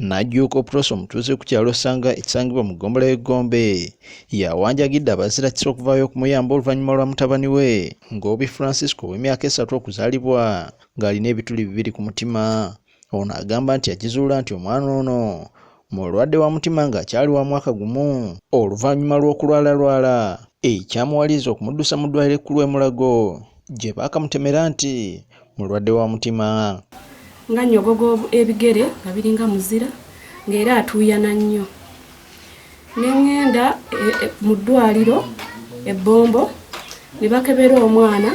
Najjuuko Pross omutuuze ku kyalo Sanga ekisangibwa mu ggombolola y'e Gombe yawanjagidde abazirakisa okuvaayo okumuyamba oluvannyuma lwa mutabani we Ngobi Francisco ow'emyaka esatu okuzaalibwa ng'alina ebituli bibiri ku mutima. Ono agamba nti yakizuula nti omwana ono mulwadde wa mutima ng'akyali wa mwaka gumu oluvannyuma lw'okulwalalwala ekyamuwaliriza okumuddusa mu ddwaaliro ekkulu e Mulago gye baakamutemera nti mulwadde wa mutima nga nyogoga ebigere nga biringa muzira ng'era atuuyana nnyo ne ŋŋenda e, e, mu ddwaliro ebbombo ne bakebera omwana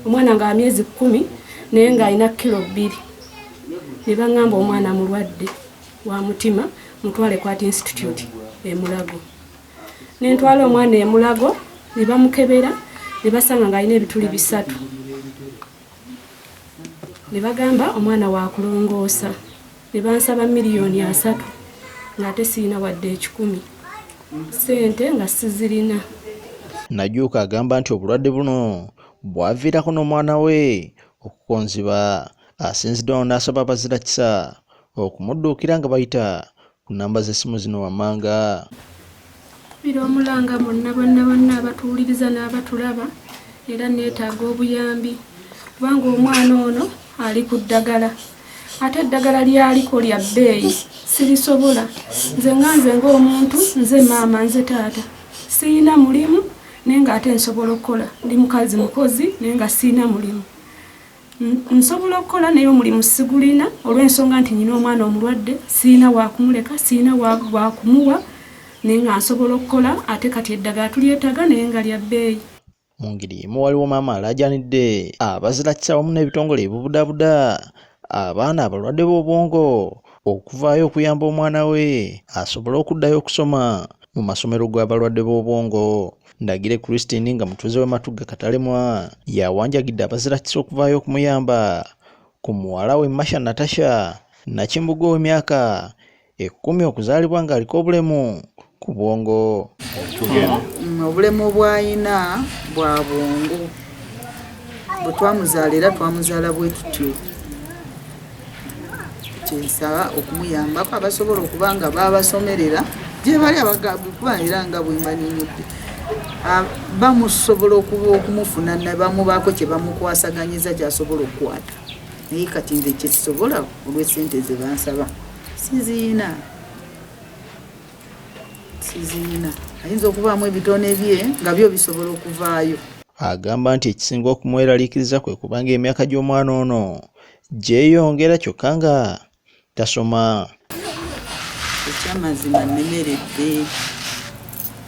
omwana nga amyezi kkumi naye ng'alina kilo bbiri ne baŋŋamba omwana mulwadde wa mutima mutwale kwati institute emulago ne ntwala omwana e Mulago ne bamukebera ne basanga ng'alina ebituli bisatu ne bagamba omwana waakulongoosa ne bansaba miliyoni asatu ng'ate sirina wadde ekikumi ssente nga sizirina najuuka agamba nti obulwadde buno bwaviirako n'omwana we okukonziba asinzidde wano n'asaba abazira kisa okumudduukira nga bayita ku namba z'essimu zino wammanga bira omulanga bonna bonna bonna abatuwuliriza n'abatulaba era neetaaga obuyambi kubanga omwana ono ali ku ddagala ate eddagala lyaliko lya bbeeyi sirisobola nze nga nze ng'omuntu nze maama nze taata siyina mulimu naye nga ate nsobola okukola ndi mukazi mukozi naye nga siyina mulimu Nsobola okukola naye omulimu sigulina olw'ensonga nti nyina omwana omulwadde sirina wakumuleka sirina wakumuwa naye nga nsobola okukola ate kati eddagala tulyetaaga naye nga lya bbeeyi. Mu ngeri y'emu waliwo maama alaajanidde abazirakisa awamu n'ebitongole ebibudabuda abaana abalwadde b'obwongo okuvaayo okuyamba omwana we asobole okuddayo okusoma mu masomero gw'abalwadde b'obwongo. Ndagire Christine nga mutuuze w'e Matugga Katalemwa yawanjagidde abazirakisa okuvaayo okumuyamba ku muwala we Masha Natasha Nakimbuga ow'emyaka ekkumi okuzaalibwa ng'aliko obulemu ku bwongo. Mm, obulemu bw'alina bwa bwongo bwe twamuzaala era twamuzaala bwe tutyo. kyensaba okumuyambako abasobola okuba nga babasomerera gyebali abagakuba era nga bwemanyinidde bamusobola okuba okumufuna nebamubaako kyebamukwasaganyiza kyasobola okukwata naye kati nze kyesobola olwesente zebansaba siziina siziina ayinza okubaamu ebitone bye nga byo bisobola okuvaayo agamba nti ekisinga okumweraliikiriza kwe kubanga emyaka gy'omwana ono gyeyongera kyokka nga tasoma ekyamazima nnemeredde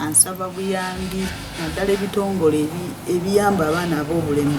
ansaba buyambi naddala ebitongole ebiyamba abaana ab'obulemu